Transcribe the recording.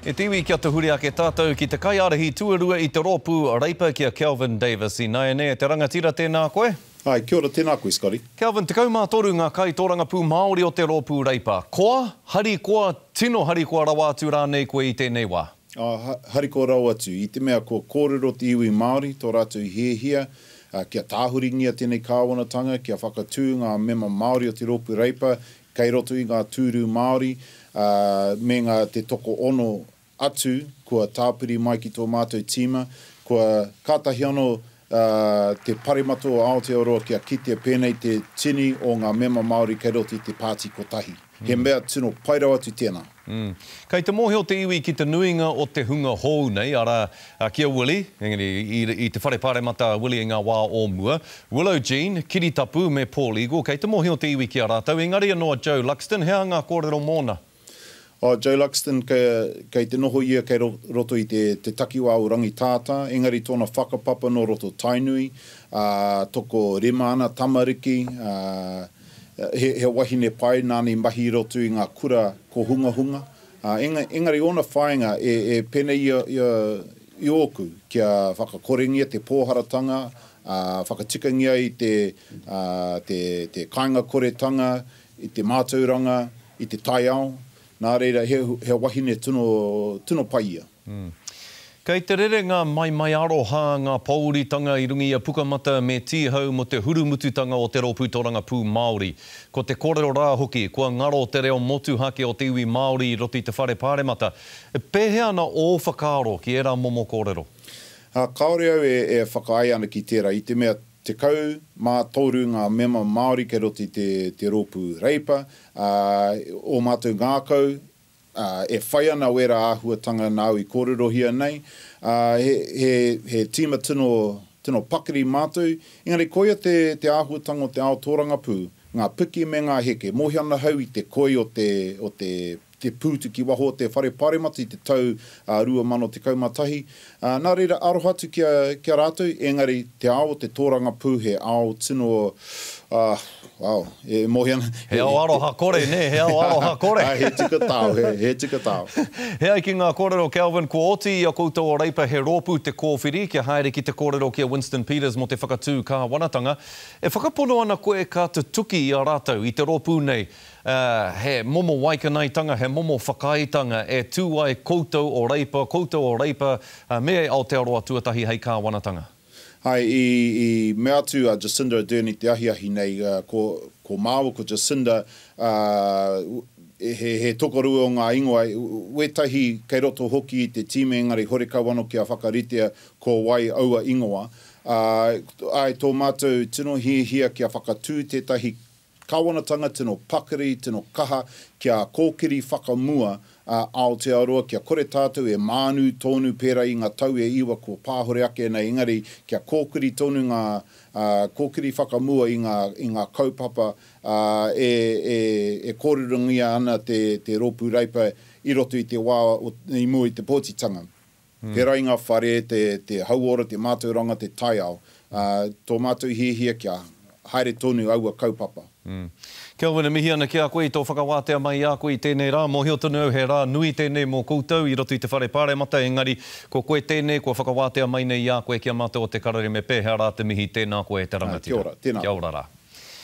E te iwi kia tuhure ake tatou ki te kaiarahi tuarua i te ropu Reipa ki a Kelvin Davis inaene te rangatira tena koe. Hi, kia ora, tēnā koe Scotty. Kelvin, tekau mā toru ngā kaitōrangapū Māori o te rōpū Reipa. Koa, harikoa, tino harikoa rawa atu rānei koe i tēnei wā? Āe, harikoa rawa atu. I te mea kua kōrero te iwi Māori, tō rātou hiahia, kia tāhuringia tēnei kāwanatanga, kia whakatū ngā mema Māori o te rōpū Reipa Kei roto i ngā tūru Māori, ā, me ngā te tokoono atu kua tāpiri mai ki tō mātou tīma, kua kātahi anō, ā, te Paremata o Aotearoa kia kitea pēnei te tini o ngā mema Māori kei roto i te pāti kotahi. He mea tino pai rawa atu tēnā. Umm. Kei te mōhio te iwi ki te nuinga o te hunga hōu nei, arā, ki a Willie, engari i te whare paremata a Willie i ngā wā o mua, Willow Jean, Kiritapu me Paul Eagle, kei te mōhio te iwi ki a rātou, engari anō a Joe Luxton, he aha ngā kōrero mōna? Oh, Joe Luxton, kei te noho ia kei roto i te takiwā o Rangitātā, engari tōna whakapapa nō roto Tainui, ā, toko rima ana tamariki, ā, He wahine pai nāna i mahi i roto i ngā kura kōhungahunga, engari ōna whāinga e pēnei i ōku, kia whakakorengia te pōharatanga, whakatikangia ai te kāingakoretanga i te mātauranga, i te taiao, nā reira he wahine tino pai ia. Kei te rere ngā maimai aroha, ngā pōuritanga i runga i a Pukamata me Tīhau mō te hurumututanga o te Rōpū Torangapū Māori. Ko te kōrero rā hoki, kua ngaro te reo motuhake o te iwi Māori i roto i te Whare Pāremata. Pēhea ana ō whakaaro ki ērā momo kōrero? Kāore au e whakaae ana ki tērā, i te mea 13 ngā mema Māori kei roto i te rōpū Reipa, ā, ō mātou ngākau ā, e whai ana wērā āhuatanga nāu i kōrerohia nei, ā, he, he, he tīma tino, tino pakari mātou, engari koia te, te āhuatanga o te ao tōrangapū, ngā piki me ngā heke. Mōhio ana ahau i te koi o te, o te, te pūtu ki waho o te Whare Pāremata i te tau, ā, 2011, Ā, nā reira, aroha atu ki a, ki a rātou, ēngari, te ao o te tōrangapū, he ao tino, ā, ao, e mōhio ana, he, He ao aroha kore, nē, he ao aroha kore. Ā, he tika tao, he, he tika tao. He ai ki ngā kōrero, Kelvin, kua oti i a koutou a Reipa he rōpū te kōwhiri, kia haere ki te kōrero ki a Winston Peters mō te whakatū kāwanatanga. E whakapono ana koe ka tutuki i a rātou, i te rōpū nei, Ā, he momo waikanaetanga, he momo whakaaetanga e tū ai koutou o Reipa, koutou o Reipa, ā, me Aotearoa tuatahi hei kāwanatanga. Āe, i, i mea atu a Jacinda Ardern i te ahiahi nei, ā, ko, ko māua, ko Jacinda, ā, he, he tokorua o ngā ingoa, wētahi kei roto hoki i te tīma engari horekau anō kia whakaritea ko wai aua ingoa. Ā, āe, tō mātou tino hiahia kia whakatū tētahi Kāwanatanga tino pakari, tino kaha kia kōkiri whakamua a Aotearoa, kia kore tātou e mānu tōnu pērā i ngā tau e iwa kua pāhore ake nei, engari kia kōkiri tonu ngā, ā, kōkiri whakamua i ngā, i ngā kaupapa, ā, e, e, e kōrerongia ana te, te Rōpū Reipa i roto i te wā o, i mua i te pōtitanga. Pērā i ngā whare, te hauora, te mātauranga, te taiao, tō mātou hiahia kia haere tonu aua kaupapa. Kelvin, e mihi ana ki a koe i tō whakawātea mai i a koe i tēnei rā. Mōhio tonu au he rā nui tēnei mō koutou i roto i te Whare Pāremata, engari ko koe tēnei kua whakawātea mai nei i a koe ki a mātou o Te Karere me pēhea rā te mihi, tēnā koe te rangatira. Kia ora, tēnā koe. Kia ora rā.